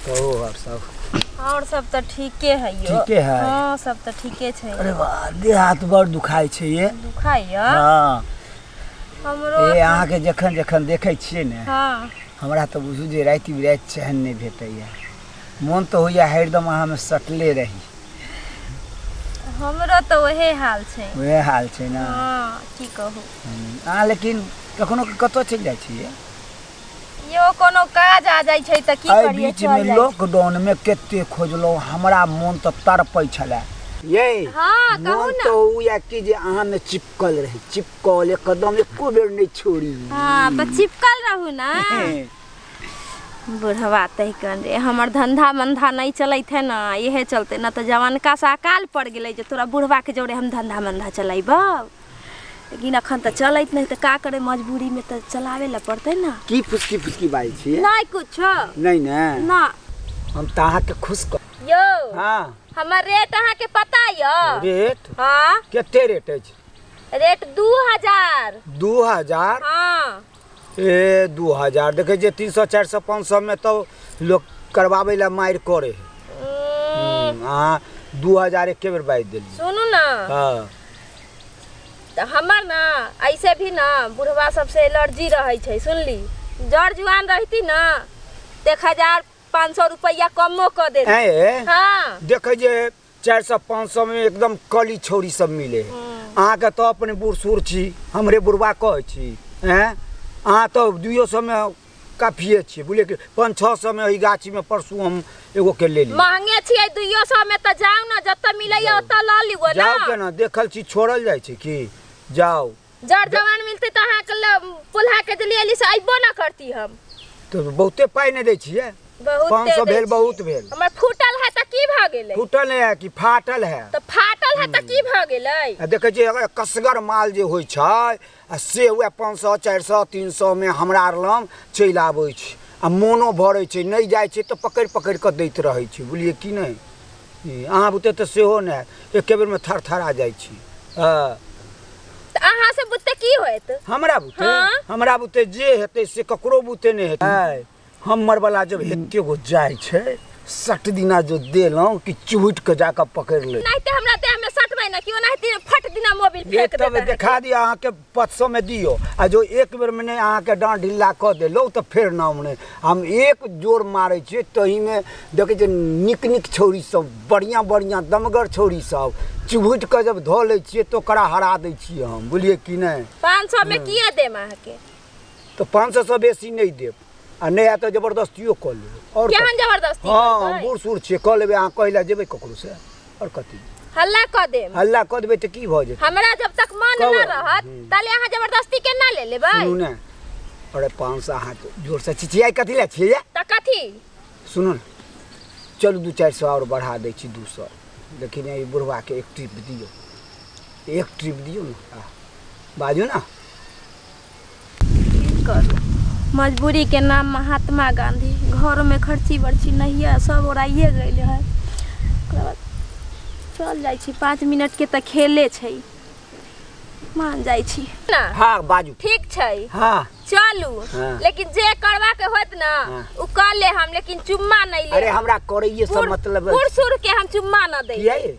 कहो और सब और सब त ठीके है यो ठीके है हां सब त ठीके छै अरे वाह देह हाथ बड़ दुखाई छै ये दुखाई है हां हमरो ए अहाँ के जखन जखन देखै छियै ने हां हमरा त बुझू जे राति बिराति चैन नहि भेटैया मोन त होइया हरदम अहाँ में सटले रही हमरो त ओहे हाल छै ओहे हाल छै ना हां की कहू अहाँ लेकिन कखनो कतौ चलि जाइ छियै यो कोनो काज आ जाइ छै तऽ की एहि करियै बीच चल में जाइ छै। लॉकडाउन में केते खोजलहुँ हमरा मोन तऽ तड़पै छलै ये हाँ, कहू मोन ने। तो हुए कि जे अहाँ में चिपकल रही चिपकल एकदम एको बेर नहीं छोड़ी हाँ तो चिपकल रहू ना बुढ़वा तहिकन रे हमर धंधा मंधा नहीं चलत है ना इहे चलते ना तो जवानका से अकाल पड़ गेलै जे तोरा बुढ़वा के जोरे हम धंधा मंधा चलेबौ लेकिन अखन तऽ चलैत नहि तऽ का करे मजबूरी में तऽ चलावे ला पड़ते ना की फुसकी फुसकी बाजै छियै नहीं कुछ नहीं ने ना हम तऽ अहाँके खुश कर यो हाँ हमर रेट अहाँ के पता यो रेट हाँ कते रेट अछि रेट दू हजार दू हजार हाँ ए दू हजार देखै छियै तीन सए चारि सए पाँच सएमे तऽ लोक करबाबै लए मारि करै है अहाँ दू हजार एके बेर बाजि देलियै सुनू ने हँ तऽ हमर ने ऐसे भी ने बुढ़वा सबसे एलर्जी रहै छै सुनली जड़ जुआन रहती ने तऽ एक हजार पाँच सए रुपैआ कमो कऽ देती ऐं ए, हाँ देखै जे चारि सए पाँच सए मे एकदम कली छौरी सब मिले अहाँके तऽ अपने बूढ़ सूढ़ छी हमरे बुढ़वा कहै छी एँ अहाँ तऽ दुइयो सए मे काफिए छियै बुझलियै कि पाँच छओ सए मे एहि गाछी मे परसू हम एगो के लेली महंगे छियै दुइयो सौ में तो जाओ ना जब तक मिले ओतऽ लऽ लियो जाओ ना केना देखल छी छोड़ल जाइ छै कि जाओ जर जवान मिलते तो अहाँ के ल- पोल्हा के दिल्ली अली से अइबो ना करती हम तो बहुते पाइ नहि दै छियै बहुत पाँच दे सौ दै भेल छी। बहुत भेल हमर फूटल है तऽ की भऽ गेलै फूटल है कि फाटल है तऽ फाटल है तऽ की भऽ गेलै आ देखै छियै अगर कसगर माल जे होइ छै आ से वएह पाँच सए चारि सए तीन सएमे हमरा आर लग चलि आबै छै आ मोनो भरै छै नहि जाइ छै तऽ पकड़ि पकड़ि कऽ दैत रहै छै बुझलियै कि नहि अहाँ बुते तऽ सेहो नहि हैत एके बेरमे थरथरा जाइ छी हँ तऽ अहाँ से बुते की होयत हमरा बुते हाँ। हमरा बुते जे हेतै से ककरो बुते नहि हेतै हमर बला जब एके गो जाइ छै सट दिना जो देलहुँ कि चुहटि कऽ जाकऽ पकड़ि ले नहीं ते हमरा ते हमें सटबै ना कि ओनाहिते फट दिना मोबिल ये फेंक तब देता है। देखा दिया अहाँके पाँच सौ में दियो आ जो एक बेर में नहीं अहाँ के डांट ढीला क देलो तो फिर ना हमने हम एक जोर मारे छे तो ही में देखे जे निक निक छोरी सब बढ़िया बढ़िया दमगर छोरी सब चुभुट के जब धो ले छिए तो करा हरा दे छिए हम बोलिए कि नहीं पाँच सौ में किया दे अहाँ के तो पाँच सौ से बेसी नहीं देब आ नहीं आए तो जबरदस्तियो कऽ लेब और केहन जबरदस्ती हाँ करतै? बूढ़ सूढ़ छिए कऽ लेबै अहाँ कहै लए जेबै ककरो से और कथी हल्ला क देम हल्ला क देबे त की भ जेतै हमरा जब तक मन कब? न रहत हम्म। ताले अहाँ जबरदस्ती के ना ले लेबै सुनू ना अरे पाँच सौ हाथ जोर से छिछियाई कथी ला छिया त कथी सुनू ना चलू दू चारि सौ और बढ़ा दै छी दू सौ लेकिन ई बुढ़वा के एक ट्रिप दियौ एक ट्रिप दियौ ना आ, बाजू ना की करू मजबूरीके नाम महात्मा गाँधी घरमे खर्ची बर्ची नहिए सब ओराइए गेल है ओकरा बाद चल जाइ छी पाँच मिनटके तऽ खेले छै मान जाइ छी ना हाँ बाजू ठीक छै हाँ चलू हाँ। लेकिन जे करवा के होत ना हाँ। उ कर ले हम लेकिन चुम्मा नहीं ले अरे हमरा करैये से बूढ़- मतलब बूढ़ सूढ़ के हम चुम्मा ना दे किया ये?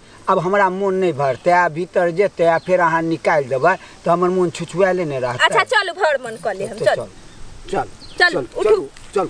आब हमरा मोन नहि भरतै आ भीतर जेतै आ फेर अहाँ निकालि देबै तऽ हमर मोन छुछुआएले नहि रहतै अच्छा चलू भर मन कऽ ले हम तऽ चलू चल चल चलू, चलू उठू चलू